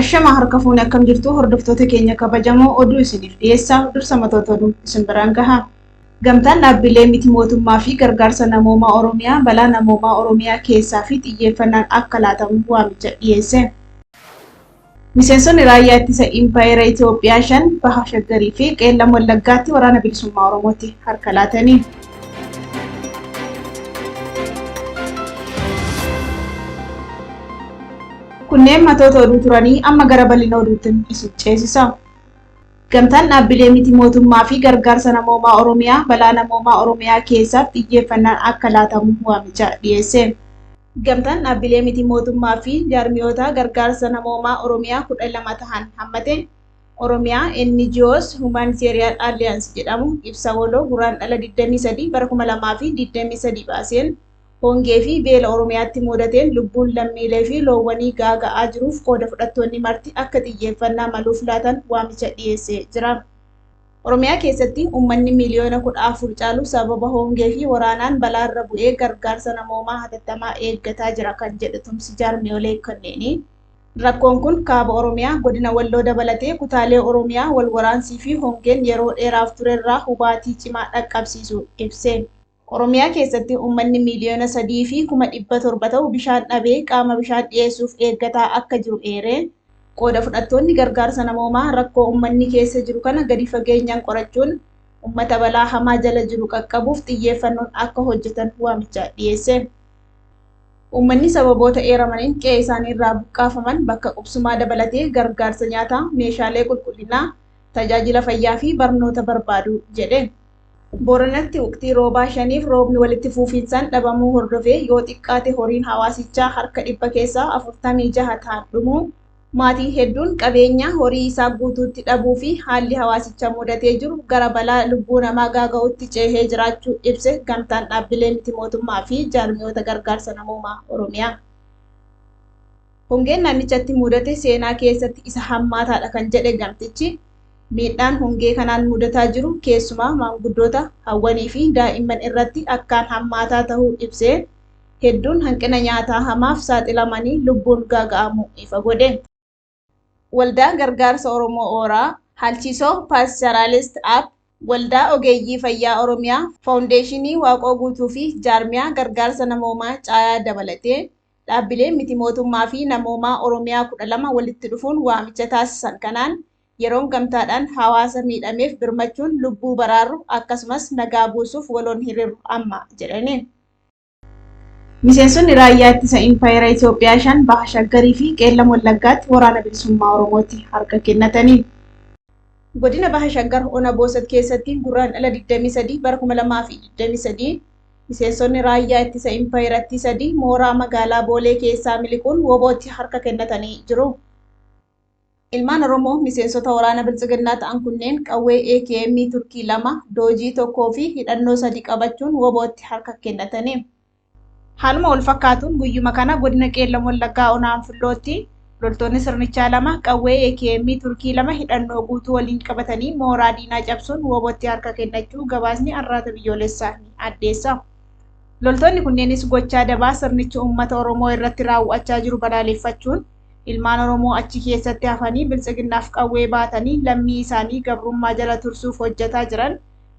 Ashamaa harka fuune akkam jirtu hordoftoota keenya kabajamoo oduu isiniif dhiyeessaa dursa matoota oduu isin biraan gaha. Gamtaan dhaabbilee miti mootummaa fi gargaarsa namoomaa Oromiyaa balaa namoomaa Oromiyaa keessaa fi xiyyeeffannaan akka laatamu waamicha dhiyeesse. Miseensonni raayyaa ittisa Impaayera Itoophiyaa shan baha Shaggarii fi Qeellam Wallaggaatti waraana bilisummaa Oromootti harka laatanii. Kunneen matoota oduu turanii amma gara bal'ina oduutti isin ceesisa. Gamtaan dhaabbilee miti mootummaa fi gargaarsa namoomaa Oromiyaa balaa namoomaa Oromiyaa keessaaf xiyyeeffannaan akka laatamu waamicha dhiyeesse. Gamtaan dhaabbilee miti mootummaa fi jaarmiyoota gargaarsa namoomaa Oromiyaa kudha lama tahan hammate. Oromia, NGOs Humanitarian Alliance jedhamu ibsa waloo Guraandhala 23 bara 2023 baaseen, hongee fi beela Oromiyaatti muudateen lubbuun lammiilee fi loowwanii gaaga'aa jiruuf qooda fudhattoonni marti akka xiyyeeffannaa maluuf laatan waamicha dhiyeesse jira. Oromiyaa keessatti ummanni miiliyoona 14 caalu sababa hongee fi waraanaan balaa irra bu'ee gargaarsa namoomaa hatattamaa eeggataa jira kan jedhe tumsi jaarmiyoolee kanneenii, Rakkoon kun Kaaba Oromiyaa, Godina Walloo dabalatee kutaalee Oromiyaa wal waraansii fi hongeen yeroo dheeraaf turerraa hubaatii cimaa dhaqqabsiisuu ibse. Oromiyaa keessatti uummanni miiliyoona 3 fi kuma 700 ta'u bishaan dhabee qaama bishaan dhiyeessuuf eeggataa akka jiru eere. Qooda fudhattoonni gargaarsa namoomaa rakkoo uummanni keessa jiru kana gadi fageenyaan qorachuun uummata balaa hamaa jala jiru qaqqabuuf xiyyeeffannoon akka hojjetan waamicha dhiyeesse. Uummanni sababoota eeramaniin qe'ee isaanii irraa buqqaafaman bakka qubsumaa dabalatee gargaarsa nyaataa, meeshaalee qulqullinaa, tajaajila fayyaa fi barnoota barbaadu jedhe. Booranatti wqtii roobaa shaniif roobni walitti fuufiinsaan dhabamuu hordofee yoo xiqqaate horiin hawaasichaa harka dhibba keessaa 46 tahan dhumuu, Maatiin hedduun qabeenya horii isaa guutuutti dhabuu fi haalli hawaasicha mudatee jiru gara balaa lubbuu namaa gaaga'uutti ceehee jiraachuu ibse Gamtaan Dhaabbilee Miti Mootummaa fi Jaarmiyoota Gargaarsa Namoomaa Oromiyaa. Hongeen naannichatti mudate seenaa keessatti isa hammaataadha kan jedhe gamtichi, miidhaan hongee kanaan mudataa jiru keessumaa maanguddoota, hawwanii fi daa'imman irratti akkaan hammaataa tahuu ibsee, hedduun hanqina nyaataa hamaaf saaxilamanii lubbuun gaaga'amuu ifa godhe. Waldaan Gargaarsa Oromoo Ooraa, Halchiso Pastoralist App, Waldaa Ogeeyyii Fayyaa Oromiyaa, Faawundeeshinii Waaqoo Guutuu fi Jaarmiyaa Gargaarsa Namoomaa Caayaa dabalatee dhaabbileen miti mootummaa fi namoomaa Oromiyaa 12 walitti dhufuun waamicha taasisan kanaan yeroon gamtaadhaan hawaasa miidhameef birmachuun lubbuu baraarru akkasumas nagaa buusuuf waloon hirirru amma jedhaniin. Miseensonni raayyaa ittisa Impaayera Itoophiyaa shan Baha Shaggarii fi Qeellam Wallaggaatti Waraana Bilisummaa Oromootti harka kennatani. Godina Baha Shaggar Ona Boosat keessatti Gurraandhala 23 bara 2023 miseensonni raayyaa ittisa Impaayerattii sadii mooraa magaalaa Boolee keessaa miliquun wbo tti harka kennatanii jiru. Ilmaan Oromoo miseensota waraana Biltsiginnaa ta'an kunneen qawwee AKM Turkii lama, doojii tokkoo fi hidhannoo sadi qabachuun WBOtti harka kennatani. Haaluma wal fakkaatuun guyyuma kana godina Qeellam Wallaggaa ona Anfillootti loltoonni sirnichaa lama qawwee AKM Turkii lama hidhannoo guutuu waliin qabatanii mooraa diinaa cabsuun WBOtti harka kennachuu gabaasni Arraata Biyyoolessaa ni addeessa. Loltoonni kunneenis gochaa dabaa sirnichi uummata Oromoo irratti raawwachaa jiru balaaleffachuun Ilmaan Oromoo achi keessatti hafanii Biltsiginnaaf qawwee baatanii lammii isaanii gabrummaa jala tursuuf hojjataa jiran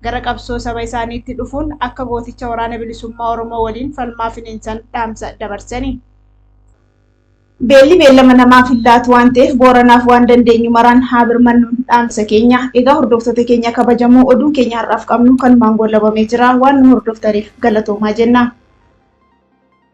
gara qabsoo saba isaaniitti dhufuun akka gooticha Waraana Bilisummaa Oromoo waliin falmaa finiinsan dhaamsa dabarsani. Beelli beellama namaaf hin laatu waan ta'eef Booranaaf waan dandeenyu maraan haa birmannu dhaamsa keenya. Egaa hordoftoota keenya kabajamoo oduun keenya har'aaf qabnu kanumaan goolabamee jira. Waan nu hordoftaniif galatoomaa jenna.